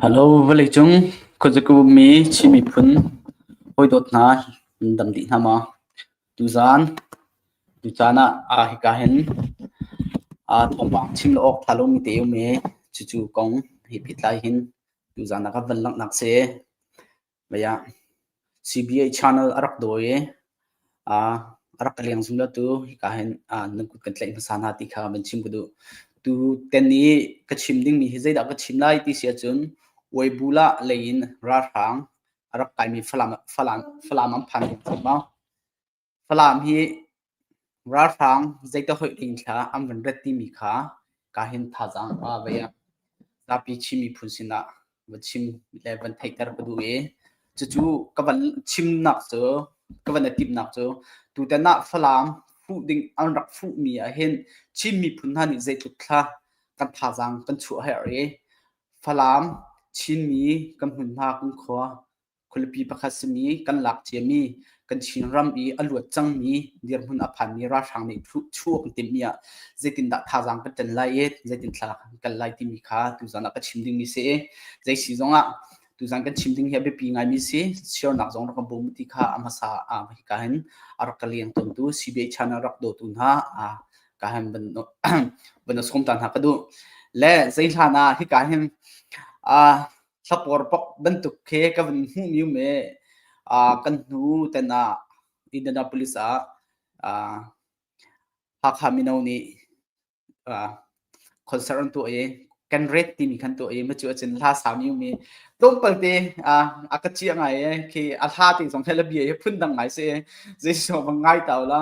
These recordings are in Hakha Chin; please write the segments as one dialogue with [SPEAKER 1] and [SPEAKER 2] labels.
[SPEAKER 1] Hello vawleicung khuazakip ummi Chin miphun hawidawt hna nan dam dih hna maw? Tuzaan tu caan ah hika hin thawngpang chim lo awk ṭha lomi te a um i cucu kong he pehtlai hin tuzaan ah kan van langhnak a si. CBA channel a rak dawi i a rak ka leng zungzal tu hika hin na kut kan tlaih hmasa hna ti kha van chim ka duh. Tu ten i ka chim dingmi hi zeidah ka chim lai ti si ahcun Weibula lei in ralhrang a rak kaimi Falam an phan ding cang maw? Falam hi ralhrang zeitihoih dingthla an van rat timi kha kahin thazaang a vei ah zapi Chin miphun sinah va chim le van theihter ka duh i cucu ka van chimnak cu ka van i timhnak cu tutan ah Falam fuh ding an rak fuhmi ahhin Chin miphun hna nih zeitluk thla kan thazaang kan chuah a herh i Falam Chinmi kan hmun hna kan khua Khualipi pakhat simi kan lak ciami kan Chinram i a luat cangmi dirhmun a phanmi ralhrang nih chuh an timhmi ah zeitindah thazaang kan ṭan lai i zeitin thlalak kan kal lai timi kha tuzan ah ka chim dingmi si i zei si zongah tuzan kan chim ding hi a biapi ngaimi si sualnak zong rak ka bawm ti kha a hmasa ah hika hin a rak ka leng tawntu CBI channel rak dawtu hna ka hin van sawm ta hna ka duh le zei hlan ah hika hin Thlapor pok bantuk khi ka vun hmuh mi um i kan hnu ten ah Indianapolis ah Hakha mino nih concert an tuah i kan rate timi khan tuah i macu ahcun hla sami um i tlawmpal te a ka ciah ngai i khi a hla te zong hi la bia hi phun dang ngai si i zei sawm ngai ta u la.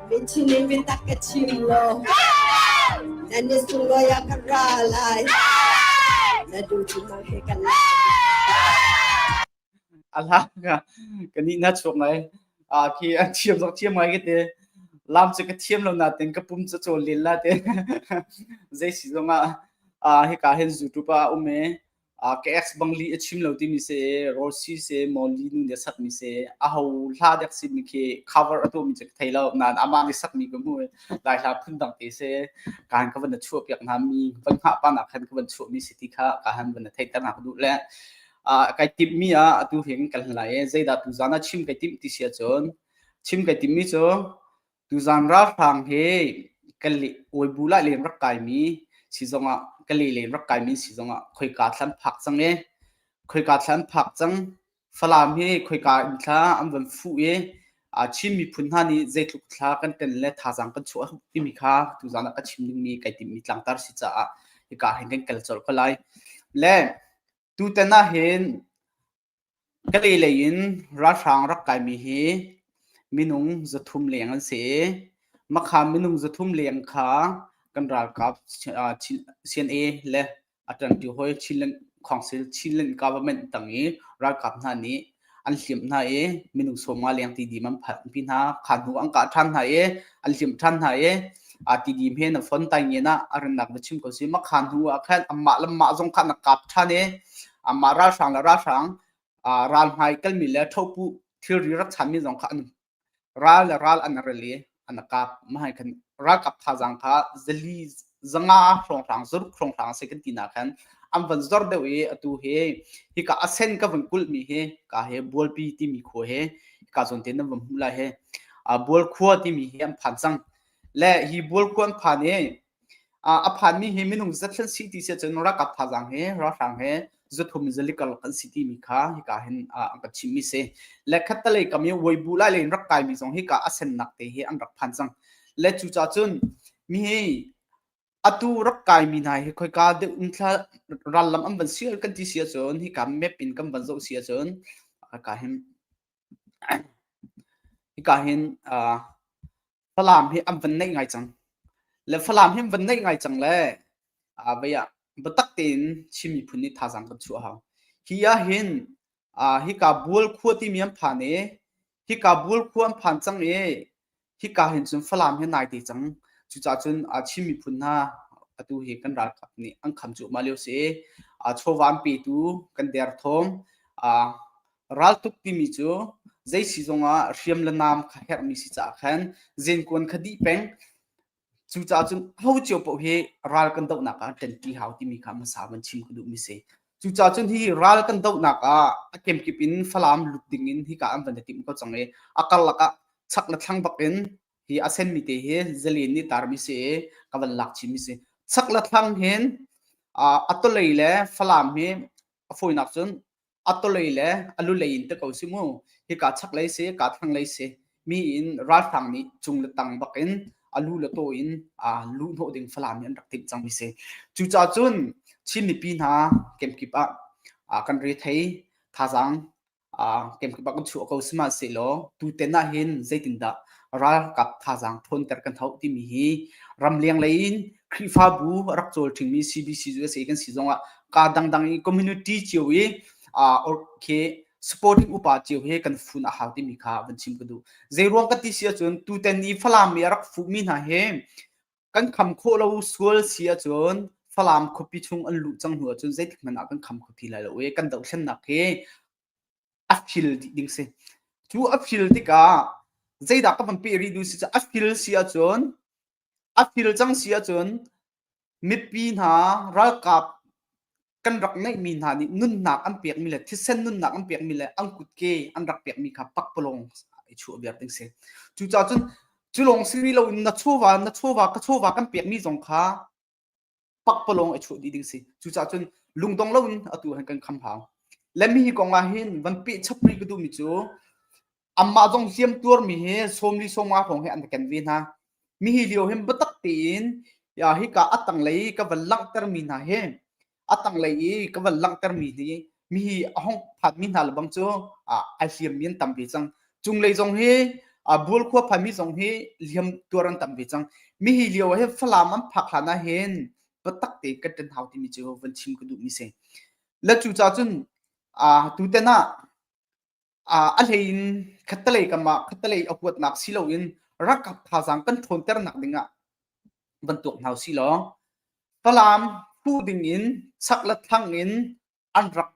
[SPEAKER 2] Vinchin in vintak ka ching lo. Nan ni sungoi a
[SPEAKER 1] ka ra lai. Na du chin mang ke kan lai. alang kan ni na chuak ngai a khi an thiam zok thiam ngai ke te lam chu ka thiam lo na ten ka pum chu chol lil la te zai si zonga a hi ka hen youtube a ume ka ex bang li a chim lo ti mi se Rossi se Molly nu de sak mi se a ho hla dek sin mi khi cover a to mi chek thei lo nan ama mi sak mi ko mu dai hla phun dang te se kan ka van chu piak na mi van ha pa na khan ka van chu mi city kha ka han van thei ta na du le kai tip mi a atu heng kan lai e zaida tu zana chim kai tip ti sia chon chim kai tip mi cho Tuzaan ralhrang hi kan li Uibu lah len rak kaimi si zongah Kali len rak kaimi si zongah khoika thlan phak cang i khoika thlan phak cang Falam hi khoika in thla an van fuh i aa Chin miphun hna nih zeitluk thla kan ten le thazaang kan chuah timi kha tuzaan ah ka chim dingmi kai timhmi tlangtar si caah hika hin kan kal colh ko lai. Le tutan ahhin Kale lei in ralhrang rak kaimi hi minung zathum leng an si i Makha minung zathum leng kha kan ralkap CNA le a ṭanṭi hawi Council Chinland government tang i ralkap hna nih an hlimh hna i minung sawmnga leng tidim an phanhpi hna. Kha hnu an kah ṭhan hna i an hlimh ṭhan hna i tidim hi na Fontainenah a rannak va chim ko sih. Makha hnu ah khan anmah le anmah zong kha an rak kap ṭhan i Amah ralhrang le ralhrang ralhmai kalmi le thopu thilri rak chanmi zong kha an ral le ral an rel i an kap. Mahai khan ralkap thazaang kha zali zanga hrawnghrang zuruk hrawnghrang a si kan ti na khan an van zor deuh i atu hi hika asen ka van kulhmi hi ka he bualpi timi khua he hika zon te nan van hmu lai he bual khua timi hi an phan cang le hi bual khua an phan i a phanmi hi minung zat kan si ti si ahcun ralkap thazaang he ralhrang he zuthum zalikal kan si timi kha hika hin an kan chimmi si le khattalei kam i weibu lai le in rak kaimi zong hika a sennak te hi an rak phan cang le cucaah cun mi hi atu rak kaimi hna hi khoika deuh ungthla rallam an van si kan ti si ahcun hika map in kan van zoh si ahcun hika hin hika hin Falam hi an van neih ngai cang. Le Falam hi van neih ngai cang le ah vei ah biatak tein Chin miphun nih thazaang kan chuah hau. Hi ah hin ah hika Bual khua timi an phan i hika Bual khua an phan cang i hika hin cun Falam hi nai te cang. Cucaah cun ah Chin miphun hna atu hi kan ralkap nih an kham cuahmah lio si i ah chawva an petu kan derthawm ah Raltuk timi cu zei si zongah hriam le nam kha herhmi si caah khan zenkuan kha dih peng cucaah cun ho cio poh hi ral kan dohnak ah ṭanṭi hau timi kha hmasa van chim ka duhmi si cucaah cun hi ral kan dohnak ah a kemkip in Falam lut ding in hika an van timh ko cang i a karlak ah chak le thlang bak in hi a senmi te hi zalen nih tarmi si i ka van lak chimi si chak le thlang hin a tolei le Falam hi a fawinak cun atolei le alulei in te ko si mu hi ka chak lei si ka thang lei si mi in ralhrang nih cung le tang bak in alu le to in a lu hnawh ding falam in rak timh cang mi si cu ca cun chin mipi hna kemkip ah kan re thei thazang kemkip ah kan chuah ko sima si lo tu ten ah hin zeitin dah ralkap thazaang ṭhawnter kan hauh timi hi ramleng lei in Khrihfabu a rak cawl ṭhingmi CBC USA kan si zongah ka dangdang i community cio i okay supporting upa cio he kan fun a hau timi kha van chim ka duh zeiruang ka ti si ahcun tutan i Falam i a rak fuhmi hna he kan kham khawh lo sual si ahcun Falam khuapi chung an luh cang hnu ahcun zeitik hmanh ah kan kham kho ti lai lo i kan dohthlennak hi a feel dih ding si. Cu a feel tikah zeidah ka van peh rih duh si cu a feel si ahcun a feel cang si ahcun mipi hna ralkap kan rak ngeihmi hna nih nunnak an pekmi le thisen nunnak an pekmi le an kutke an rak pekmi kha pakpalawng i chuah viar ding si. Cucahcun cu lawng si rih loin na chawva, na chawva, ka chawva kan pekmi zong kha pakpalawng a chuh dih ding si cucaah cun lungdong loin atu han kan kham hau lemi hi kong ah hin van peh chapri ka duhmi cu amah zong siam tuarmi hi sawmli sawma hrawng he an ka ken ve hna mi hi lio hin biatak tein ya hi ka atang lei ka van langhtermi hna hi a tanglei i ka van langhtermi hi mi hi a hong phanmi hna lebang cu ai hliammi an tam ve cang cunglei zong hi bual khua phanmi zong hi liam tuar an tam ve cang mi hi lio he falam an phak hlan ah hin patak te ka tan hau timi cu van chim ka duh mi si la cu ca cun tu ten ah a hleiin khattelei kamah khattelei a huatnak si loin rakap thazaang kan ṭhawnternak dingah van tuak hna si law Falam phu dingin sak le thlang in an rak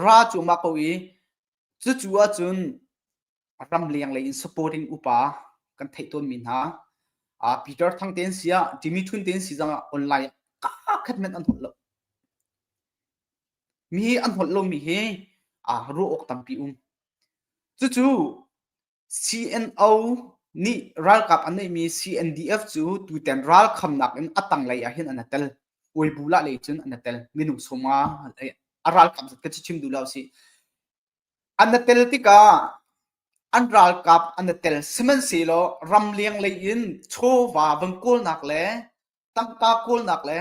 [SPEAKER 1] ra cuma ko i cucu ahcun ram leng lei in supporting upa kan theih tawnmi hna Peter Thang tein siah Jimmy Chun tein si zangah online ah kakhat hmanh an holh lo Mi hi an holh lomi hi ruah awk tampi um. Cucu CNO nih ralkap an neihmi CNDF cu tutan ralkhamnak in a tanglei ah hin an tel. Uibulah lei cun an tel. Minung sawma a ralkap zat ka chim duh lo si. An tel tikah an ralkap an tel. Sihmanhsehlaw ramleng lei in chawva van kawlnak le tangka kawlnak le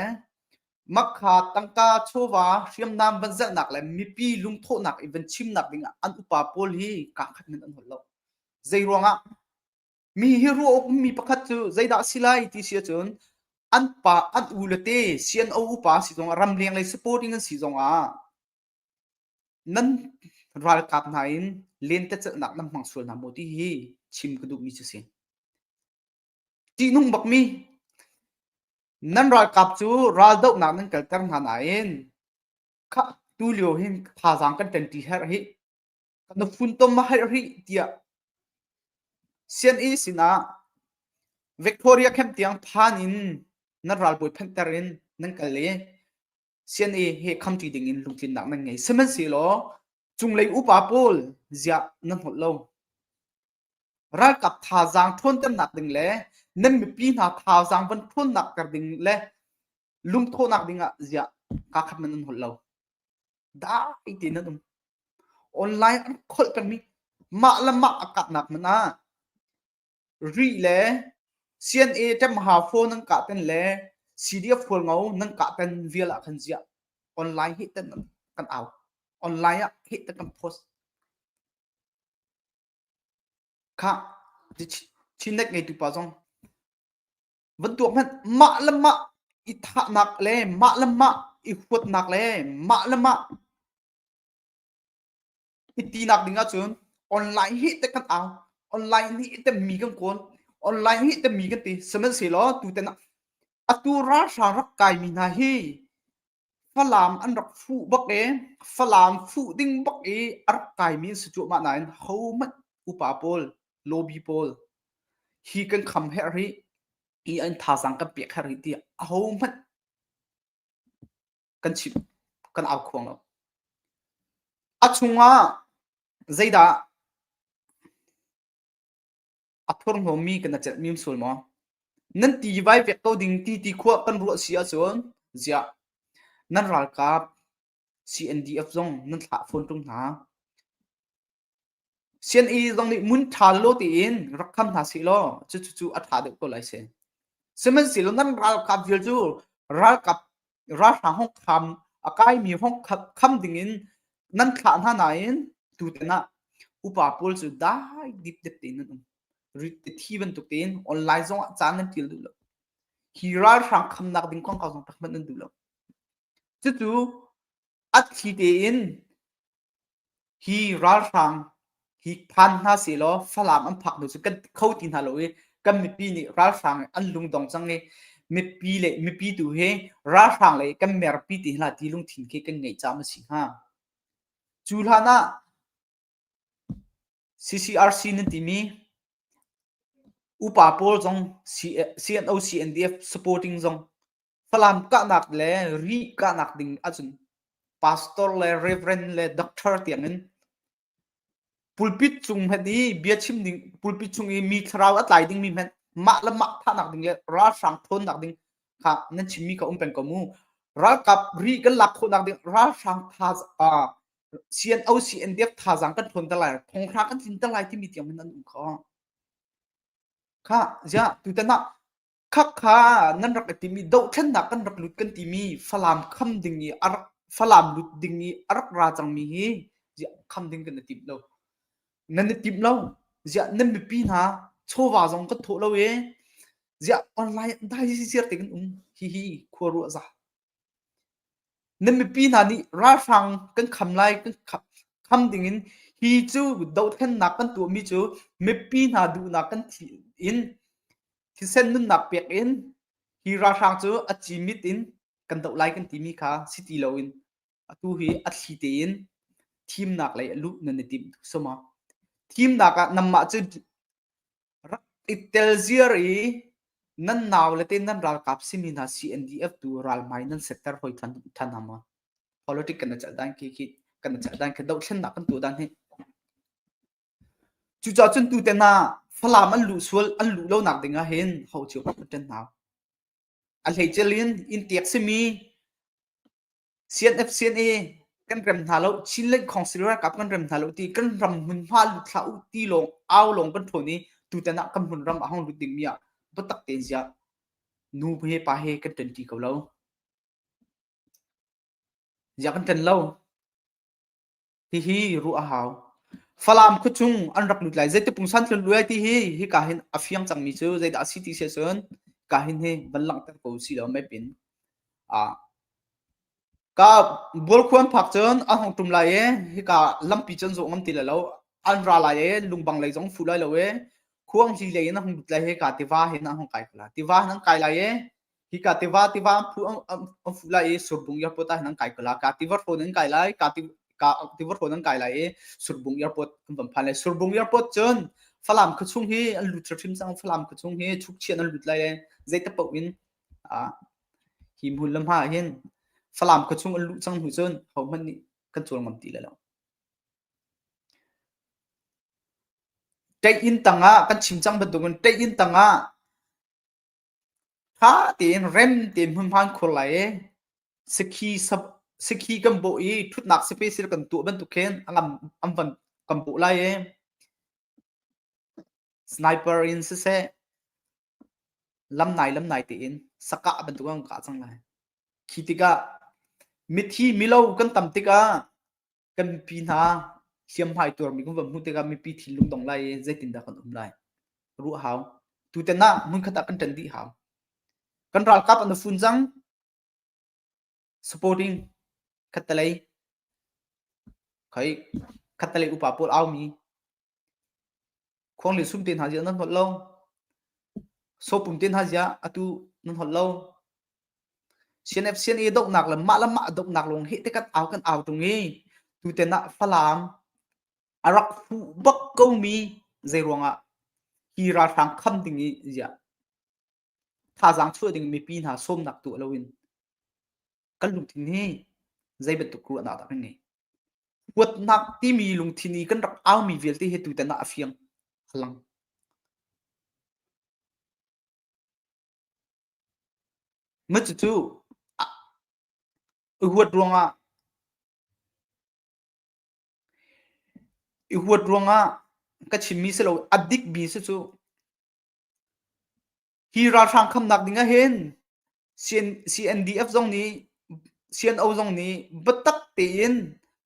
[SPEAKER 1] makha tangka chawva hriamnam van zelhnak le mipi lungthawhnak in van chimnak dingah an upa pawl hi kangkhat nan an hol lo zei ruangah mi hi ruah ummi pakhat cu zeidah a si lai ti si ahcun an pa an u le te sian o upa si zongah ramleng lei supporting an si zongah nan ralkap hna in lentecelhnak nan hmang sual hna maw ti hi chim ka duhmi cu si Ṭihnung bakmi nan ralkap cu raldohnak nan kalter hna nain khah tulio hin thazaang kan ṭanṭi herh hih, kan na funtom a herh rih tiah sianginn sinah Victoria camp tiang phan in nan ralbawi phanhter in nan kal i sianginn he khamṭi dingin lungtlinnak nan ngei. Sihmanhsehlaw cunglei upa pawl ziah nan holh lo? ralkap thazaang ṭhawnternak ding le nan mipi hna thazaang van ṭhawnnak ter ding le lungthawhnak ding ah ziah kaa khat man an holh lo dai te nan um online an kholh pengmi mah le mah a kahnak man ah ri le CNA ṭemha phone nan kah ten le CDF fualngo nan kah ten vial ah khan ziah online hi ten kan au online ah hi te kan post Khah, chinek ngeitu zong bantuak hmanh mah le mah i thahnak le mah le mah i huatnak le mah le mah i tinak ding ahcun online hi te kan au online hi te mi kan kawn online hi te mi kan ti sihmanhsehlaw tutan ah atu ralhrang rak kai mi hna hi Falam an rak fuh bak i Falam fuh ding bak i a rak kaimi an si cuahmah nain hohmanh upa pawl, lawbi pawl hi kan kham herh rih i an thazaang kan pek herh rih tiah ahohmanh kan chim, kan au khuang lo. A chungah zeidah a phurhnawmi kan na celh mim sul maw nan ti vai pek ko ding ti ti khua kan ruah si ahcun ziah nan ralkap CNDF zong nan thlah fawn ṭung hna CNE zong nih mun ṭha lo tiin rak kham hna si law cucu a ṭha deuh ko lai si sihmanhsehlaw nan ralkap vial cu ralkap ralhrang hongkham a kaimi hongkhat kham dingin nan thlah hna nain tutan ah upa pawl cu dai dipdep tein an um thi bantuk tein online zong ah caan nan ṭil duh lo hi ralhrang khamnak ding kong kong zong pakhat nan duh lo cucu a thli tein hi ralhrang hi phan hna sehlaw Falam an phak hnu cu kan kho ti hna lo i kan mipi nih ralhrang an lungdong cang i mipi le mipi tu hi ralhrang lei kan merpi ti hla ti lungthin khi kan ngei cam a si hnga cu hlan ah CCRC nan timi upa pawl zong CNO CNDF supporting zong Falam kahnak le ri kahnak ding ahcun pastor le reverend le doctor tiangin pulpit cung hmenh i bia chim ding pulpit chung i mi thlarau a tlai dingmi hmenh mah le mah thahnak ding le ralhrang thawnnak ding kha nan chimmi ka um peng ko mu ralkap ri kan lak khawhnak ding ralhrang tha uh, CNO CNDF thazang kan thawn ta lai thongthra kan tlin ta lai timi tiang an um kho kha ja tutana Khakha nan rak i timi dohthlennak kan rak lut kan timi Falam kham ding i a rak Falam lut ding i a rak ra cangmi hi ziah kham ding kan i timh lo. Nan i timh lo. Ziah nan mipi hna chawva zong kan thawh lo ee. Ziah online dai ziar te kan um. Hihi khuaruah za. Nan mipi hna nih ralhrang kan kham lai kan kham, kham dingin hi cu dohthlennak kan tuahmi cu mipi hna duhnak kan thih in thisen nunnak pek in hi ralhrang cu a ci mit in kan doh lai kan timi kha si ti loin atu hi a thli tein thimnak lei a luh nan i tim tu suma thimnak ah namah cu rak i tel ziar i nan nau le te nan ralkap simi hna CNDF tu ralmai nan sektor hoi than than hama politic kana chal dan ki ki kana chal dan ke do thlen nak kan tu dan hi Cucacun tutan ah Falam an luh sual an luh lo nak ding ah hin ho cio an ṭan hna. A hleical in innteek simi CNF CNA kan rem hna lo, Chin Lake Council ralkap kan rem hna lo ti kan ram hmunhma lut hlah u ti lawng au lawng kan ṭhawn i tutan ah kan hmun ram a hong lut ding mi ah biatak tein ziah nu he pa he kan ṭan ṭi ko lo. Ziah kan ṭan lo? Hihi ruah a hau. Falam khuachung an rak lut lai. Zeiti pungsan tlun luai ti hi hika hin a fiang cangmi cu zeidah a si ti si ahcun ka hin hi van langhter ko si law mai pin. Ah, ka bualkhuan phak cun an hong ṭum lai i hika lampi cun zawh ngam ti lo. An ra lai i lungbang lei zong fuh lai lo i khuangzi lei in an hong lut lai hi ka tiva hin an hong kai ko lai. Tiva hin an kai lai i Hika tiva tiva an phu an fu lai i surbung airport ah hin an kai kal a ka tiva hrawn an kai lai ka tiva hrawn an kai lai i surbung airport an van phan lai surbung airport cun Falam khua chung hi an lut hrim cang Falam khua chung hi chukchian an lut lai i zeitak paoh in hi hmun le hma ah hin Falam khua chung an luh cang hnu cun hohmanh nih kan cuar ngam ti lai lo. Ṭaih inn tangah kan chim cang bantuk in ṭaih inn tangah Ṭha tein rem tein hmunhma kan khur lai i sakhi sap- sakhi kan bawh i ṭhutnak special kan tuah bantuk khin a ngam an van kan bawh lai i sniper in siseh lam nai lam nai tein sakah bantuk an kah cang lai. Khi tikah mithi milo kan tam tikah kan mipi hna hliamhmai tuarmi kan van hmuh tikah mipi thinlung dong lai i zeitindah kan um lai ruah hau tutan ah hmunkhat ah kan ṭan dih hau kan ralkap an fun cang supporting khattalei khai khattalei upa pawl aumi Khuang le sum te hna zia nan holh lo. Sopum te hna zia atu nan holh lo. CNF CNA doknak le mah le mah doknak lung hi te kan au kan au tung i tuten ah Falam a rak fu bak ko mi zei ruangah hi ralhrang kham ding i ziah thazaang chuah ding mipi hna sawmnak tu loin kan lungthin hi zei bantuk ruahnak dah kan ngei huatnak timi lungthin i kan rak aumi vialte he tutan ah a fiang hlang ma cucu i huat ruangah i huat ruangah ka chimmi si lo a dik bi si cu Hi ralhrang khamnak ding ah hin CNDF zong nih CNO zong nih biatak tein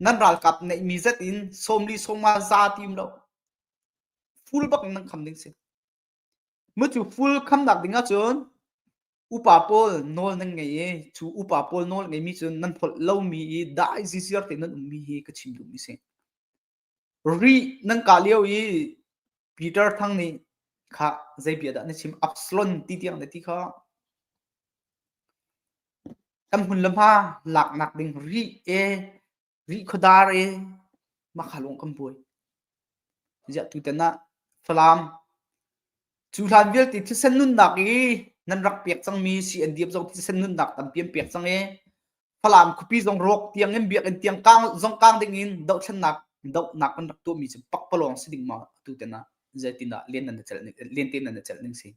[SPEAKER 1] nan ralkap neihmi zat in sawmli sawmnga za tim lo full bak in nan kham ding si. Mucu full khamnak ding ah cun upa pawl nawl nan ngei i cu upa pawl nawl ngeimi cun nan pholh lomi i dah i zizir tein nan ummi hi ka chim duhmi a si. Rih nan kah lio i Peter Thang nih kha zeipiah dah na chim Absalon ti tiang na ti kha kan hmun le hma laknak ding rih e rih khuadar e mahka lung kan buai ziah tutan ah Falam cu hlan vialte thisen nunnak i nan rak pek cangmi si an diam zong thisen nunnak tam pian pek cang e Falam khuapi zong rawk tiangin biakinn tiang kang zong kang dingin dohthlennak dohnak an rak tuahmi cu pakpalawng si ding ma atu ten ah zeitindah len nan celh len tein nan celh ning si?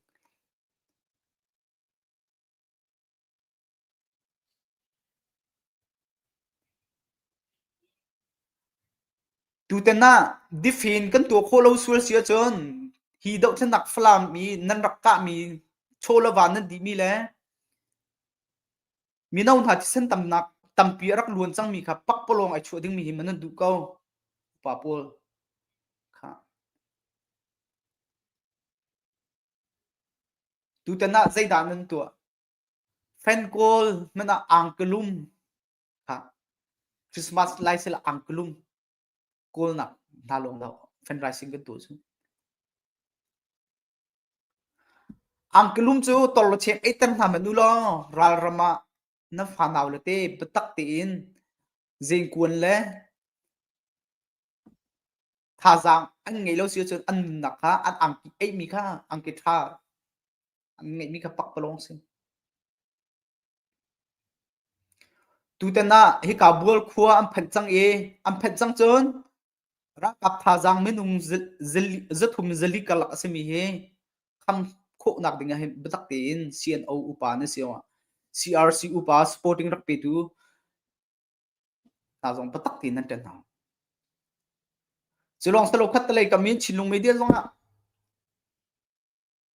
[SPEAKER 1] Tutan ah difin kan tuah khawh lo sual si ahcun hi dohthlennak Falam i nan rak kahmi chawlawan nan dihmi le mino hna thisen tamnak tampi a rak luan cangmi kha pakpalawng ai chuah dingmi hi manan duh ko pa paul kha tutan ah zeidah nan tuah fenkawl man ah angklum kha christmas lai sel angklum kawlnak hna lawng lo fan rising kan tu cu Angkelum cu torlawcheng eiter hna hmanh ulaw ralram ah na fa naule te biatak tein zeenkuan le thazaang an ngei lo si ahcun an nunnak kha an angki eihmi kha angki ṭha an ngeihmi kha pakpalawng a si. Tutan ah hika bual khua an phanh cang i an phanh cang cun Ralkap thazaang minung zathum zali karlak a simi hi kham khawhnak ding ah hin biatak tein CNO upa na si awah CRC upa supporting rak petu hna zong biatak tein nan ṭen hna. Cu lawng salo khat lei kam in Chinlung media zong ah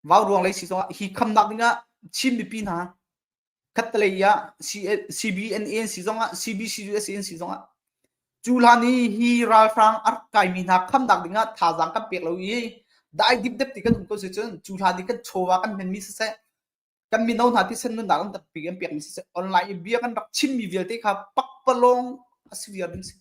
[SPEAKER 1] vau ruang lei si zong ah hi khamnak ding ah Chin mipi hna khatlei ah CBNANC zong ah CBCUSANC zong ah cu hlan i hi ralhrang ar kaimi hna khamnak ding ah thazaang kan pek lo i dai dip dep ti kan um ko si cun cu hlan i kan chawwa kan hmenmi siseh kan mino hna thisen nunnak kan tak pi kan pek mi siseh online i bia kan rak chimmi vialte kha pakpalawng a si viar ding si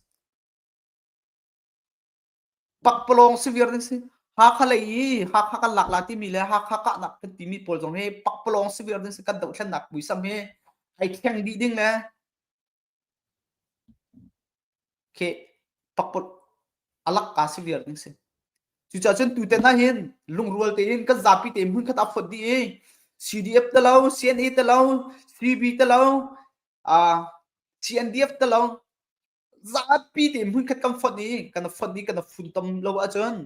[SPEAKER 1] pakpalawng severe ding si Hakha lei i Hakha kan lak la timi le Hakha kahnak kan timi pawl zong hi pakpalawng severe ding si kan doh thlennak muisam hi ai thleng dih ding le khi pakpal alak ka severe ding si cucah cun tuten na hin lungrual tein kan zapi te mun khat a phot di i CDF te lo CNA te lo CB te lo uh, CNDF te lo zapi nih hmunkhat kan fonh i kan fonh i kan funtom lo ahcun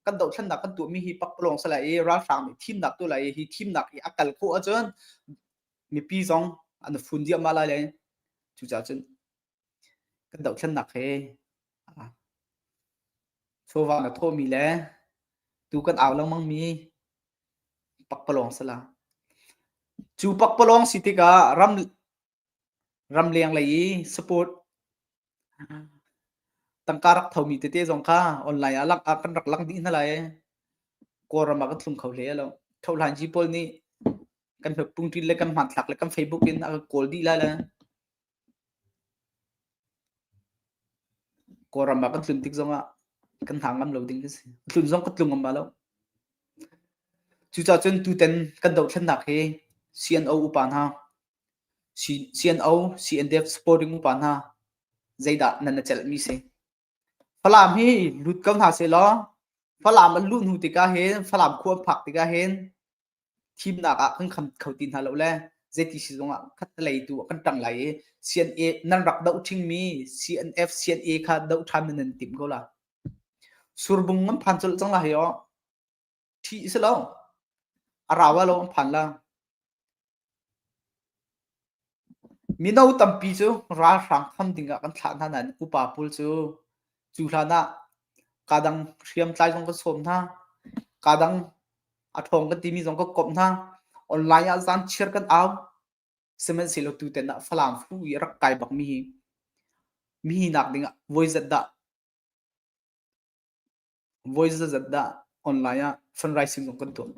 [SPEAKER 1] kan dohthlennak kan tuahmi hi pakpalawng sa lai i ralhrang nih thimnak tu lai hi thimnak i a kal khawh ahcun mipi zong an fun diahmah lai le cucaah cun kan dohthlennak he chawva na thawhmi le tu kan au lengmangmi pakpalawng sala cu pakpalawng si tikah ram Ramleng lei i sport tangka rak thomi tete zong kha online ah lak ah kan rak lang dih hna lai i Kawlram ah kan thlum kho hle a lo. Thohlanci pawl nih kan hnukpung ṭil le kan hmanthlak le kan Facebook in a kan kawl dih lai le Kawlram ah kan tlun tik zong ah kan hang ngam lo ding a si. Tlun zong ka tlung ngam ba lo. Cucacun tutan kan dohthlennak hi CNO upa hna Sian-o, CNDF supporting upa hna, zeidah nan na celhmi si? Falam hi lut ko hna sehlaw, Falam an luh hnu tikah hin, Falam khua an phak tikah hin, thimnak ah kan kham kho ti hna lo le zeiti sizung ah khat lei tu kan ṭang lai i CNA nan rak doh ṭhingmi CNF, CNA kha doh ṭhan na nan timh ko la. Surbung an phan colh cang lai hei awh. ṭhi a si lo a rau lo an phan la mino tampi cu ralhrang tham ding ah kan thlah hna nain upa pul cu cu hlan ah kadang hriamtlai zong ka sawm hna kadang a ṭhawng kan timi zong ka kawp hna online ah zan chiar kan au sihmanhsehlaw tutan ah falam fu i rak kai bak mi hi mi hi nak ding ah voi zat dah Voi zeizat dah online ah fundraising kan tuah?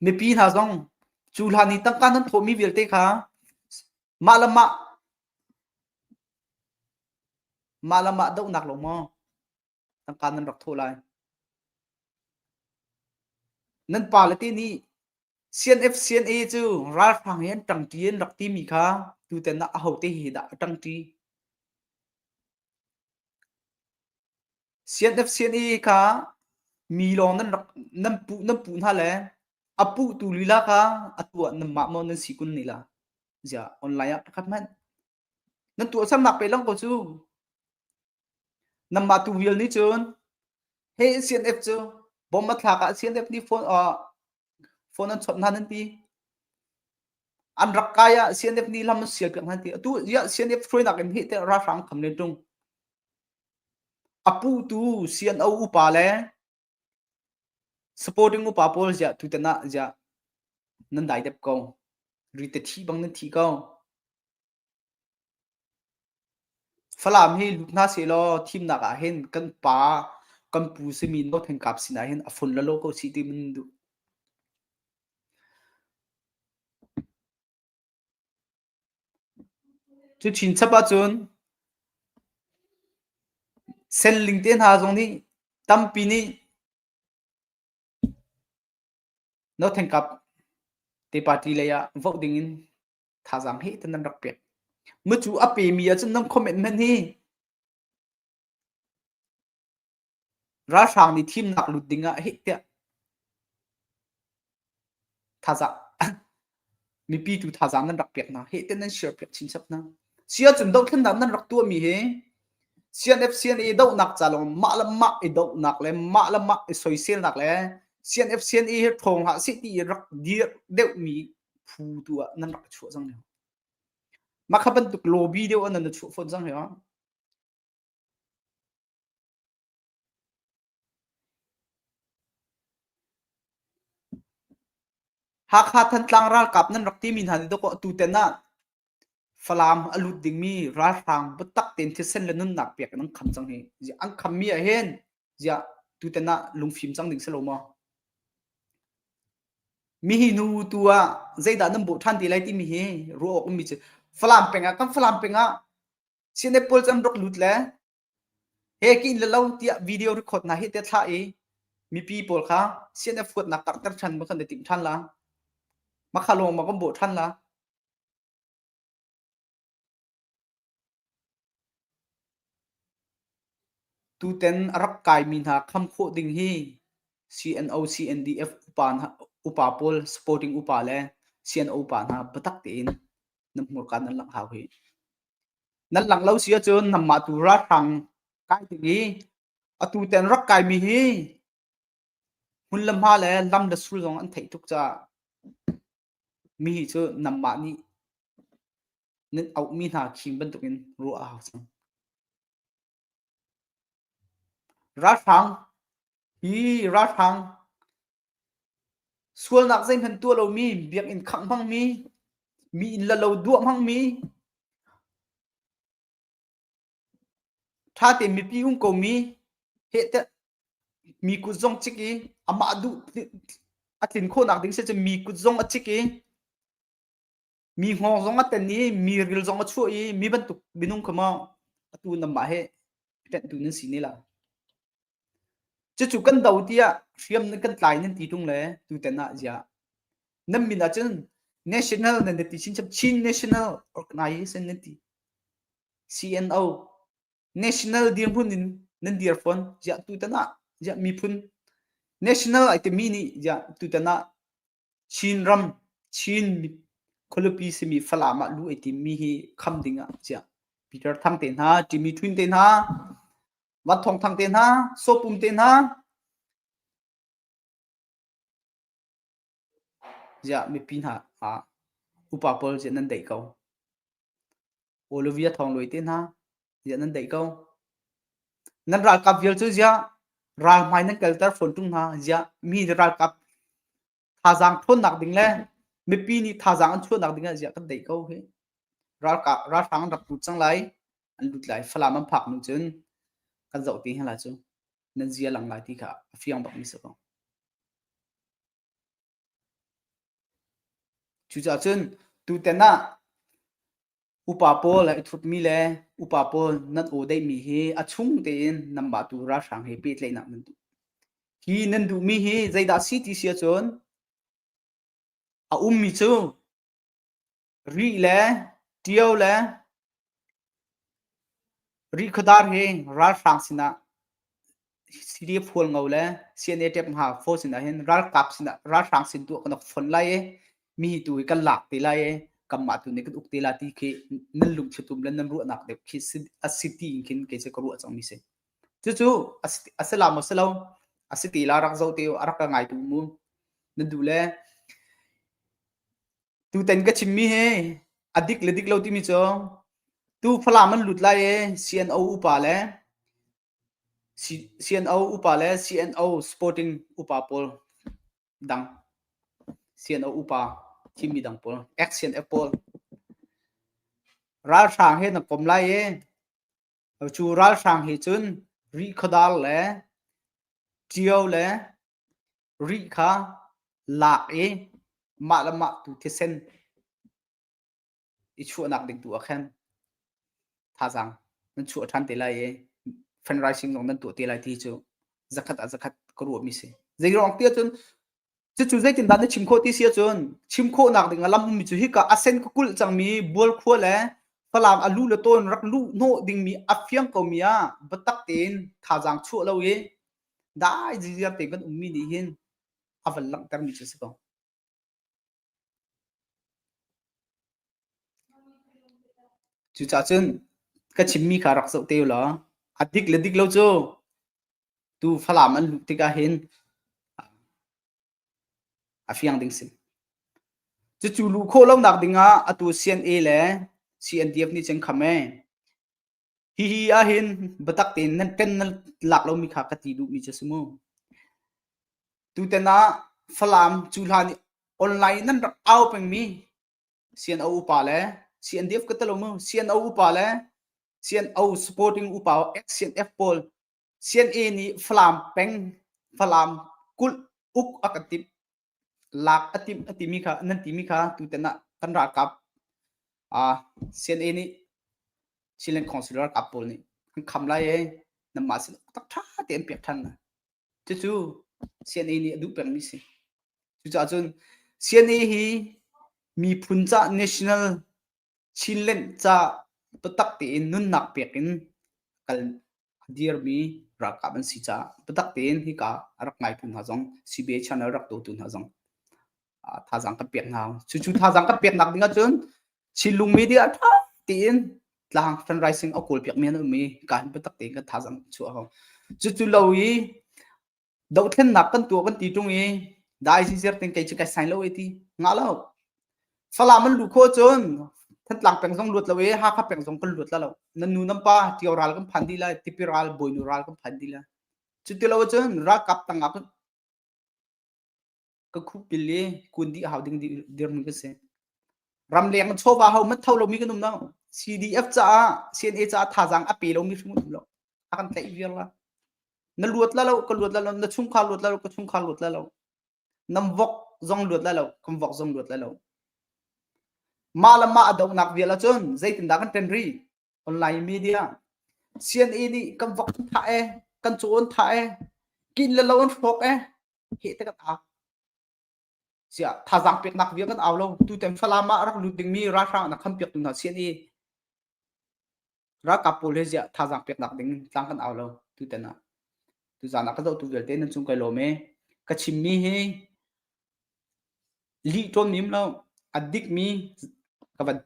[SPEAKER 1] Mipi hna zong cu hlan i tangka nan thawhmi vialte kha mah le mah mah le mah dohnak lo maw tangka nan rak thawh lai nan pale te nih CNF CNA cu ralhrang hi an ṭangṭi an rak timi kha tutan ah ahote hi dah a ṭangṭi CNF CNA kha mi lawng nan rak nan pu nan pu hna le a pu tu lila kha a tuah nan mah mo nan si kun nila zia online ah pakhat hmanh nan tuah samnak pe lang ko cu Namma tu vial ni cun he CNF cu bom a thlak ah CNF nih phone phone an chawt hna nan ti an rak kai ah CNF nih lam an sial piak hna ti atu ya CNF hruainak in heh teh ralhrang kham le tung a pu tu CNO upa le supporting upa pawl ziah tu ten ah ziah nan dai dep ko ri te thi bang nan thi ko Falam hi lut hna sehlaw thimnak ah hin kan pa kan pu simi Naw Hten Kap sinah hin a fun le law ko si ti in duh. Cu chin chap ahcun senling te hna zong nih tampi nih Naw Hten Kap te party lei ah vote ding in thazaang he tan an rak pek. Mucu a pemi ahcun nan comment hmanh hi ralhrang nih thimnak lut ding ah hih tiah thazaang mipi tu thazaang nan rak pek hna heh tiah nan share pek chin chap hna sia cun dohthlennak nan rak tuahmi hi CNF CNA dohnak ca lawng mah le mah i dohnak le mah le mah i soiselnak le CNF CNA hi ṭhawng ha si ti rak dir deuhmi phu tu ah nan rak chuah cang lio. Mah kha bantuk lobby deuh ah nan na chuah fawn cang lio. Hakha Thantlang ralkap nan rak timi hna ni dawk atu ten ah Falam a lut dingmi ralhrang biatak tein thisen le nunnak pek an kham cang hi. Ziah an khammi ah hin ziah tutan ah lungfim cang ding si lo maw? Mi hi nu tu ah zeidah nan bawh ṭhan te lai timi hi ruah awk ummi cu Falam peng ah kan Falam peng ah Sinai Paul can rak lut le he ka in le lo tiah video record hna hi te thlah i mipi pawl kha CNF huatnak karhter than ma kan i timh than la ma kha lawng ma kan bawh than la tutan a rak kaimi hna kham khawh ding hi CNO CNDF upa upa pawl supporting upa le CNO upa hna patak tein nam hmur kan an lak hau hi nan lang lo si ahcun nanmah tu ralhrang kai ding i atu ten rak kaimi hi hmun le hma le lam le sul zong an theih tuk caah mi hi cu nanmah nih nan auhmi hna khim bantukin ruah a hau cang. Ralhrang hi ralhrang sualnak zeihmanh tuah lomi biakinn khangh hmangmi mi inn le lo duah hmangmi ṭhate mipi um komi hehtiah mi kut zong cik i amah duh a tlin khawhnak ding si cun mi kut zong a cik i mi ngawk zong a ten i mi ril zong a chuah i mi bantuk minung kha maw atu namah he ṭenhtu nan si ne la cucu kan do tiah hriam nan kan tlai nan ti tung le tuten ah zia nan min ah cun national nan ti chin chap chin national organization nan ti CNO national dirhmun in nan dir fon zia tu tanah zia miphun national ai te mi ni zia tu tanah Chinram Chin khualipi simi Falam ah lu ei timmi hi kham ding ah chiah. Peter Thang te hna, Jimmy Twin te hna, Wat Thawng Thang te hna, Sawpum te hna, ziah mipi hna ah upa pawl ziah nan daih ko. Olivia thonglawi te hna ziah nan daih ko nan ralkap vial cu ziah ralhmai nan kalter fawn ṭung hna ziah mi nih ralkap thazaang ṭhawnnak ding le mipi nih thazaang an chuahnak ding ah ziah kan daih ko hi ralkap ralhrang an rak lut cang lai an lut lai falam an phak nu cun kan zoh te hela cu nan zia lang lai ti kha a fiang bak mi si ko Cucacun tutan ah upa pawl i thutmi le upa pawl nan aw deihmi hi a chung tein nan mah tu ralhrang he pehtlaihnak nan duh. Hi nan duhmi hi zeidah si ti si ahcun a ummi cu Rih le ṭio le rihkhawdar hi ralhrang sinah Syria phual ngo le CNATF ngha fo sinah hin ralkap sinah ralhrang sin tu kan rak fon lai i mi tu hi kan lak te lai i kanmah tu nih kan uk te la ti khi nan lungthlutum le nan ruahnak deuh khi a si ti in khin kei cu ka ruah cang mi si cucu a si la maw si lo a si ti la rak zo te u a rak ka ngai tu mu nan du le Tutan ka chimmi hi a dik le dik lo timi cu tu Falam an lut lai i CNO upa le CNO upa le CNO Sporting upa pawl dang CNO upa thimmi dang pawl ex-CNF pawl ralhrang he na kom lai i cu ralhrang he cun rihkhawdar le ṭio le Rih kha lak i mah le mah tu thisen i chuahnak ding tu ah khan thazaang nan chuah ṭhan te lai i fundraising zong nan tuah te lai ti cu zakhat ah zakhat ka ruahmi si. Zeiruang tiah cun cucu zeitindah na chim khawh ti si ahcun chim khawhnak ding a lamhmi cu hika a sen ka kulh cangmi bual khua le falam a lu le tawn rak luh hnawh dingmi a fiang komi ah biatak tein thazaang chuah lo i dai zia pe kan ummi nih hin a van langhtermi cu a si ko. Cucaah cun ka chimmi kha rak zoh te law a dik le dik lo cu tu Falam an luh tikah hin a fiang ding si. Cucu luh khawh lonak dingah atu CNA le CNDF nih cun kham ee Hihi ahhin biatak tein kan nan lak lomi kha ka ti duhmi cu a si maw? Tutan ah Falam cu hlan i online in nan rak au pengmi CNO upa le CNDF ka tel lo maw? CNO upa le CNO supporting upa SCNF pawl CNA nih Falam peng Falam kulh uk a kan timh. lak a tim a timi kha nan timi kha tuten ah kan ralkap uh, CNA nih Chinland Councillor ralkap pawl nih kan kham lai e nan ma si tak tha te an pek than cucu CNA nih a duh pengmi si cucaah cun CNA hi miphun ca national Chinlenh ca biatak tein nunnak pek in kal a dirmi ralkap an si caah biatak tein hika a rak ngaitu hna zong CBA channel rak dotu hna zong thazaang kan pek hna. Cucu thazaang kan peknak ding ahcun Chinlung media ṭha tein tlang fundraising a kawl piakmi an um i kan biatak tein kan thazaang chuah a hau. Cucu lo i dohthennak kan tuah kan ti ṭung i dai si zer ting kei cu kai sai lo e ti ngah lo falam an lu kho cun thantlang peng zong luat lo i hakha peng zong kan luat la lo nan nu nan pa ṭio ral kan phan dih la tipi ral bawinu ral kan phan dih la cu ti lo cun ralkap tangah ka khupil le kun di hau ding dir mi ka si ram leng chawva ho mat tho lomi kan um no CDF caah CNA caah thazang a pe lomi hrim um lo a kan tlaih viar la na luat la lo ka luat la lo na chung kha luat la lo ka chung kha luat la lo nam vok zong luat la lo kam vok zong luat la lo ma la ma adok nak vial cun zeitin da kan pen ri online media CNA nih kan vok tha e kan chon tha e kin le lo an hrok e heh te kan au siah thazang peknak vial kan au lo tutan falam ah rak lut dingmi ralhrang na khan pek hna sian i ralkap pawl he ziah thazang peknak ding tlang kan au lo tutan ah tuzan ah ka zoh tu vialte nan chung kai lawm e ka chimmi hi lih ṭon nim lo a dikmi ka van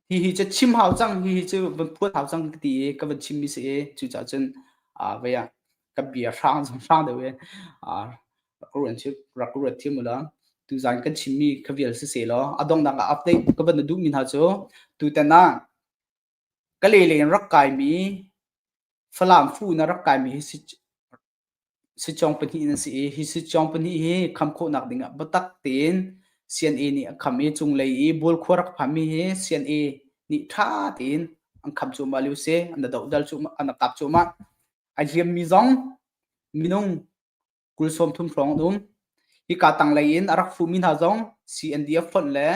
[SPEAKER 1] hihi cu chim hau cang hihi cu van phuat hau cang ka ti i ka van chimmi si i cucaah cun ah vei ah ka bia hrang zong hrang deuh i ah ruan cu rak ruat thiam ula tuzan kan chimmi ka vial si se law a dongnak ah update ka van na duhmi hna cu tutan ah ka lele in rak kaimi Falam fu na rak kaimi hi si Sitcong pahnih na si i hi sitcong pahnih hi kham khawhnak ding ah biatak tein CNA nih a kham i cunglei i bulkhua rak phanmi hi CNA nih ṭha tein an kham cuahmah lio si an dodal cuahmah an tak cuahmah ai hliammi zong minung kul sawm thum hrawng an um hika tanglei in a rak fuhmi hna zong CNDF fonh le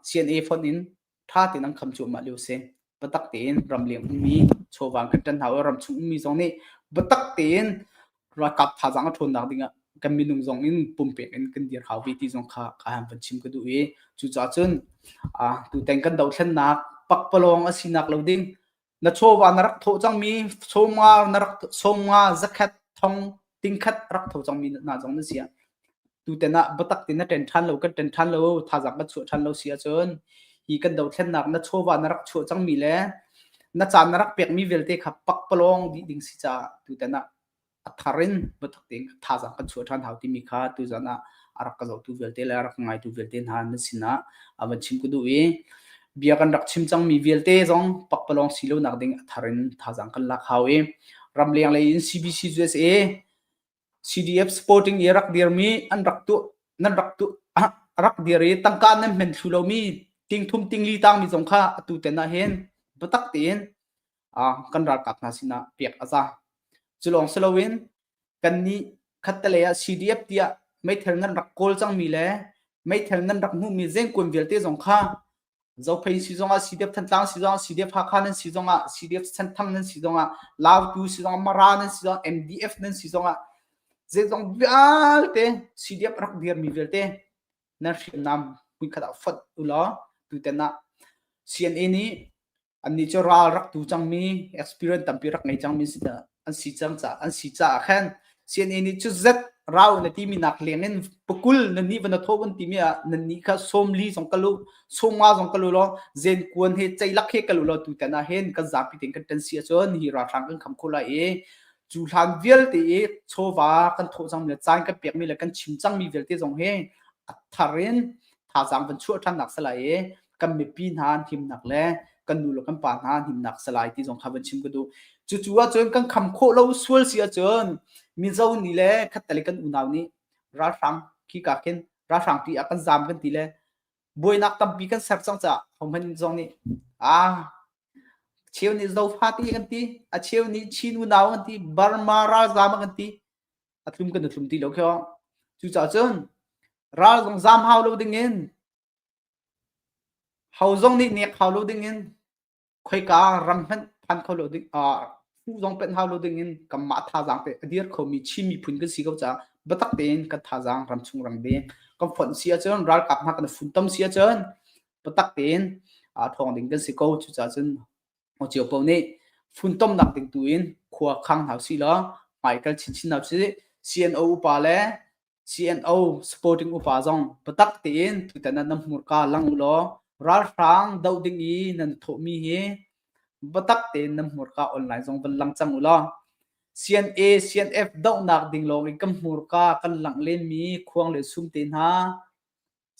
[SPEAKER 1] CNA fonh in ṭha tein an kham cuahmah lio si. Biatak tein ramleng ummi chawvang kan ṭan hna u, ramchung ummi zong nih biatak tein ralkap thazaang a ṭhawnnak ding ah kan minung zong in pumpek in kan dir hau ve ti zong kha ka han van chim ka duh i cucaah cun tutan kan dothlennak pakpalawng a sinak lo ding Na chawva na rak thawh cangmi chawma na rak chawma zakhat thong tingkhat rak tho cangmi hna zong na si ah tutan ah biatak ti na ṭen ṭhan lo kan ṭen ṭhan lo thazang kan chuah ṭhan lo si ahcun hi kan dothlennak na chawva na rak chuah cangmi le na caan na rak pekmi vialte kha pakpalawng dih ding si caah tutan ah a thar in pathak ting thazang kan chuah ṭhan hau timi kha tuzan ah a rak ka zohtu vialte le a rak ngaitu vialte hna nan sinah a van chim ka duh i bia kan rak chim cangmi vialte zong pakpalawng si lo nak ding a thar in thazang kan lak hau i ramleng lei in CBC USA CDF Sporting i rak dirmi an rak tu nan rak tu rak dir i tangka nan men thlu lomi tingthum tingli tangmi zong kha atu ten ah hin batak tiin kan ralkap hna sinah pek a za. Culawng si loin kan nih khattelei ah CDF tiah meithal ngan rak kawl cangmi le meithal ngan rak hmuhmi zengkuan vialte zong kha Zophain si zongah CDF Thantlang si zongah CDF Hakha nan si zongah CDF Senthang nan si zongah Lautu si zongah Mara nan si zongah MDF nan si zongah zeizong vialte CDF rak dirmi vialte nan hriamnam puinkhat ah fot ulaw tutan ah CNN nih annih cu ral rak tu cangmi experience tampi rak ngei cangmi si an si cang ca an si caah khan CNA nih cu zet rau na timi nak leng in pakul na nih van tho an timi ah na nih kha somli zong kalu somwa zong kalu lo zen kuan he ceilak he kalu lo tu tena hen kan zapi ting kan ten si achon hi ralhrang kan kham khula e cu hlan vialte e chova kan tho cang mi cai kan pek mi le kan chim cang mi vialte zong he atharin tha zang van chu than nak sala e kan mipi hna an himnak le kan nu le kan pa hna an himnak se lai ti zong kha van chim ka duh cucu ahcun kan kham khawh lo sual si ahcun mizo ni le khattale kan unau nih ralhrang khi ka khin ralhrang ti a kan zam kan ti le buainak tampi kan ser cang ca honghan zong nih ah cheu nih zofa ti kan ti a cheu nih chin unau kan ti burma ralzam kan ti a thlum kan thlum ti lo kho cucahcun ral zong zam hau lo dingin Ho zong nih nek hau lo dingin khoika ram hmanh phan kho lo ding phu zong penh hau lo dingin kanmah thazaang pek a dir khomi Chin miphun kan si ko caah biatak tein kan thazaang ram chung rang ding kan fonh si ahcun ralkap hna kan funtom si ahcun biatak tein thawng ding kan si ko cucaah cun Ho Cio paoh nih funtomnak ding tu in khua khang hau silaw hmaikhal chinchin hau sih CNO upa le CNO supporting upa zong biatak tein tutan nan hmurka lang u law ralhrang doh ding i nan thawhmi hi biatak tein nan hmurka online zong van lang cang u law CNA CNF dohnak ding lawng in kan hmurka kan langh lenmi khuang le sum te hna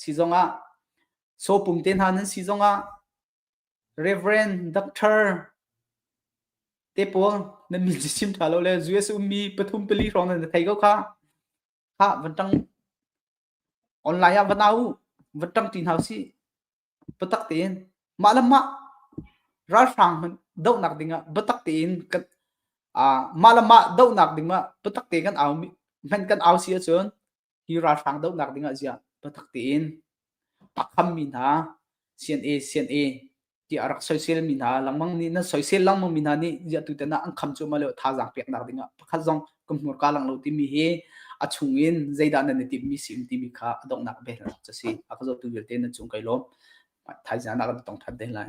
[SPEAKER 1] si zong ah sopum te hna nan si zong ah Reverend, Doctor te pawl nan min cu chim ṭha lo le US ummi pathum pali hrawng nan thei ko kha. Kha van ṭang online ah va na u, va ṭang ṭi hna u sih. Biatak tein mah le mah ralhrang hmanh dohnak ding ah biatak tein kan ah mah le mah dohnak ding ah biatak te kan au hmanh kan au si ahcun hi ralhrang dohnak ding ah ziah biatak tein pakham mi hna CNA CNA ti a rak soisel mi hna langmang nih nan soisel langmang mi hna nih ziah tu tenak an kham cu ma le thazaang peknak ding ah pakhat zong kumhnur ka lang lo timi hi a chung in zeidah nan i timmi si in timi kha a donghnak bel a si a ka zotu vialte nan chung kai lawm thaizian ah kan tong than te lai